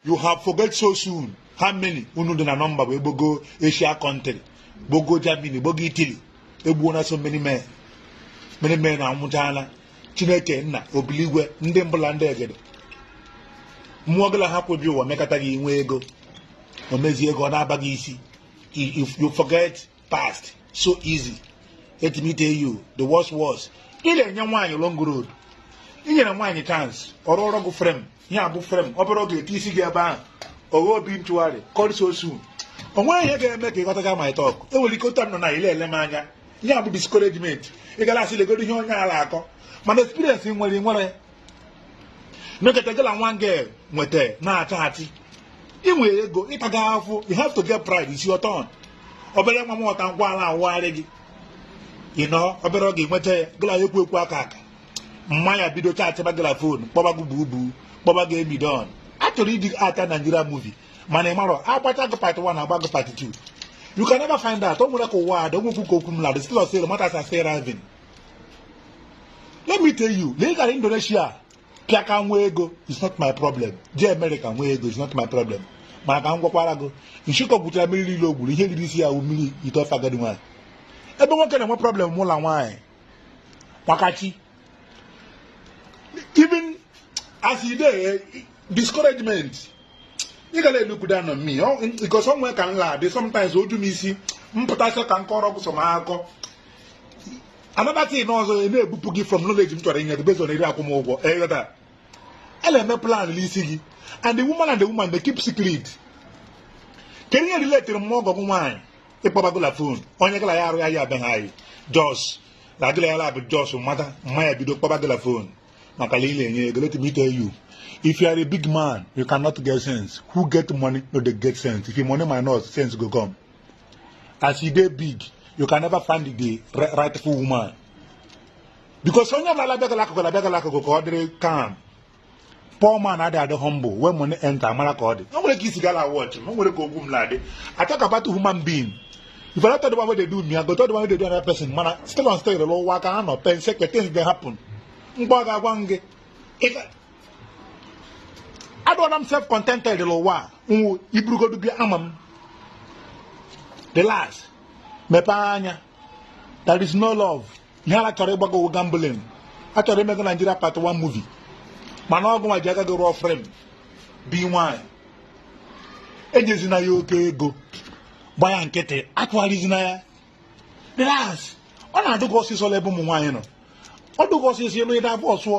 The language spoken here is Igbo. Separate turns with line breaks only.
you have forget so soon how many unu dị na nọmba bụ egbogo asia country gbogo germany gbogo italy egbuona so many men many men anwụchaala chineke nna obi l'igwe ndị mbụ la ndị egede mmụọ gị la ha kwebi ụwa mekata gị ị nwee ego o mezie ego ọ na-aba gị isi you forget past so easy let me tell you the worst was ị na-enye nwaanyị long road ị nyere nwaanyị chance ọ rụọrọ gị frem ihe a bụ frem ọ bụrụ oge e ti isi gị ebe ahụ oge obi ntụgharị come so soon o nweghị ihe ga-eme ka ị ghọtaga my talk e nwere ike ụta nọ na ị la-ele m anya ihe a bụ discouragement ị gara asị legodo ihe onye ala akọ mana experience nwere nwere mekata gị na nwa girl nweta na-achọ achị ị nwere ego ị taga afụ you have to get pride it's your turn obere nwa moto ngala awụgharị gị ị nọ obere oge nweta ya gị la ya ekwu ekwu aka aka mma ya bido chaachịba gị la fon kpọba gị bubu kpọba gị emidon a chọrọ idi ata Nigeria movie mana ị marọ a gbacha gị part 1 a gba gị part 2 you can never find out o nwere ka ụwa adị o nwekwu ka okwu m la-adị still ọsịrị matters arising let me tell you na ị gara indonesia pịa aka nwee ego is not my problem jee america nwee ego is not my problem mana ka m gwakwara gị nshikọ gwuchara mmiri niile o gwuru ihe riri isi ya wụ mmiri ite ofe agadi nwaanyị ebe nwoke na-enwe problem bụ na nwaanyị maka chi even as e dey discouragement ị gara look down on me because o nwe ka m la-adị sometimes o ju m isi m pụta sị ka m kọrọ ọgwụ sọ m akọ another thing ọzọ na-ebupụ gị from knowledge m chọrọ inye gị based on eri akwụmụgwọ ị ghọta a na-eme plan n'isi gị and the woman and the woman they keep secret kedu ihe relatere mma ọgọ gị nwaanyị ịkpọba gị la fon onye gị la ya arụ ya ya abịaghị anyị just na gị la ya la bụ just mata mma ya bido kpọba gị la fon maka na ị la-enye ego let me tell you if you are a big man you cannot get sense who get money no dey get sense if your money minus sense go come as you dey big you can never find the rightful woman because onye ọbụla abịagala akụkụ abịagala akụkụ ka ọ dịrị calm poor man adị adị humble when money enter amara ka ọ dị o nwere ka isi gala watch m o nwere ka ogwu m na-adị I talk about human being if I don't tell the one wey dey do me I go tell the one wey dey do another person mana still on still ụwa ka ha nọ pen sekpe things dey happen mgbe ọ ga-agwa m gị adịla m self contented n'ụwa a nwụ i burugodu bịa ama m relax mepee anya there is no love ihe a la chọrọ ịgba gị wụ gambling a chọrọ ime gị Nigeria part one movie mana ọ gị nwa ji aka gị rụọ frem bi nwanyị enyezina ya oke ego gba ya nkịtị atụgharịzina ya relax ọ na-adụ gị ọsịsọ n'ebe ụmụ nwaanyị nọ ọ dụ gị ọsịsọ ịlụ ịda abụọ sụọ